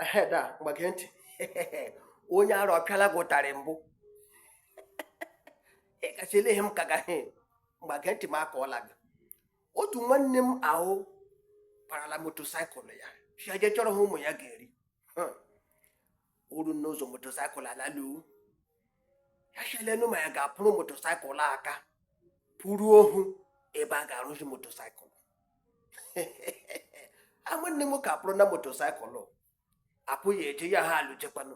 Ehe, da, ngwa gee ntị. Onye ara ọpịala gị ụtarị mbụ. Ị gachi ele he m kaga he. Ngwa gee ntị m akọọla gị. Otu nwanne m ahụ parala motosaịkụl ya. Shị ya jee chọrọ he ụmụ ya ga-eri. Hmm. O ru n'ụzọ motosaịkụl alalu. Ya shị lenu ma ya ga-akpụrụ motosaịkụl aka. Kpụrụ ohu ebe a ga-arụzi motosaịkụl. nwanne m nwoke akpụrụna motosaịkụlụ akpụ ya eje ya ha alụjekwanụ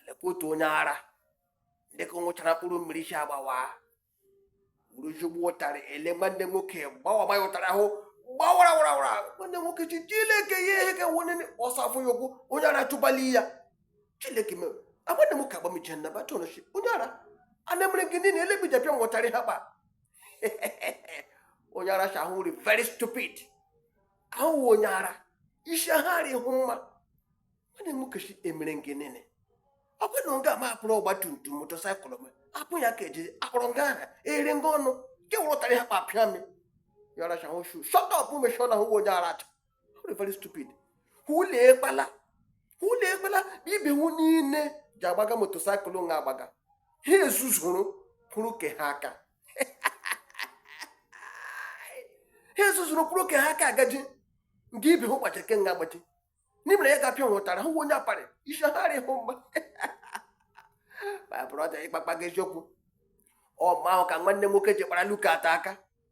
lekwa otu onye ara dịka ọ ṅụchara mkpụrụ mmiri si agbawa uruzugbo ụtarị ele nwanne nwoke gbawagba ya ụtarị ahụ gbawara wara wara nwanne nwoke shị Chileke ya ihe ka nwanne nne ọsọ afọ ya ụkwụ onye ara chụbali ya Chileke mere nwanne m nwoke agbamiche na bachọnụchi onye ara ana mere gị nini ele he i ji apịa m ụtarị ha kpa onye ara shị hụ rị very stupid a hụ wụ onye ara isi ha arị hụ mma nwanne m nwoke shị emere m gị nini ọ bụ na nga m akpụrụ ọgba tum tum motosaịkụl m akpụ ya ka eji akpụrụ nga aha ere nga ọnụ nke wụ ụtarị ị kpapịa m onye ara shị hụ shu shut up mechie ọnụ hụ onye ara atụ very stupid olee kpala olee kpala ibe hu niile ji agbaga motosaịkụl nga agbaga ha ezuzuru kpụrụ ke ha aka ha ezuzuru kpụrụ ke ha aka agaji nke ibe hụ gbaji ke nga agbaji n'imere ya ga-apịa hụ ụtarị hụ onye aparị isi ha rị hụ mma my brother ịkpakpa gị eziokwu ọ ma ahụ ka nwanne nwoke ji kpara luka ata aka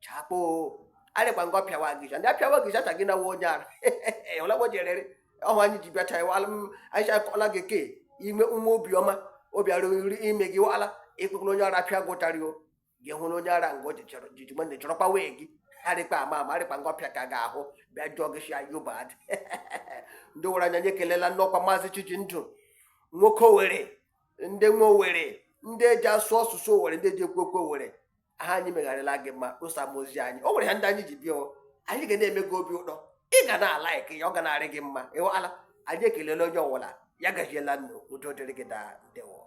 chakpo arịkpa nga ọ pịawa gị ja ndị apịawa gị jacha gị nawa onye ara ọlagbo jerere ọhụ anyị ji bịacha ya wala m anyị shị akọọla gị ke ime nwa obiọma obiara nri ime gị wala ị kpee ekpere onye ara pịa gị ụtarị o gị hụrụ onye ara nga o jichọrọ jiji nwanne chọrọkwa way gị arịkpa ama ama arịkpa nga ọpịa ka ga-ahụ bịa jụọ gị shị are you mad ndị Owere anyị anyị ekelela unu ọkwa maazị Chijindụ nwoke Owere ndị nwe Owere ndị eji asụ asụsụ Owere ndị eji ekwu okwu Owere he anyị mega rịla gị mma kposa m ozi anyị o nwere he ndị anyị ji bịa o. anyị ga na-eme gị obi ụtọ ị ga na-alaik ya ọ ga na-arị gị mma ịwala anyị ekelela onye ọwụla ya gaziela unu udo dịrị gị daa ndewo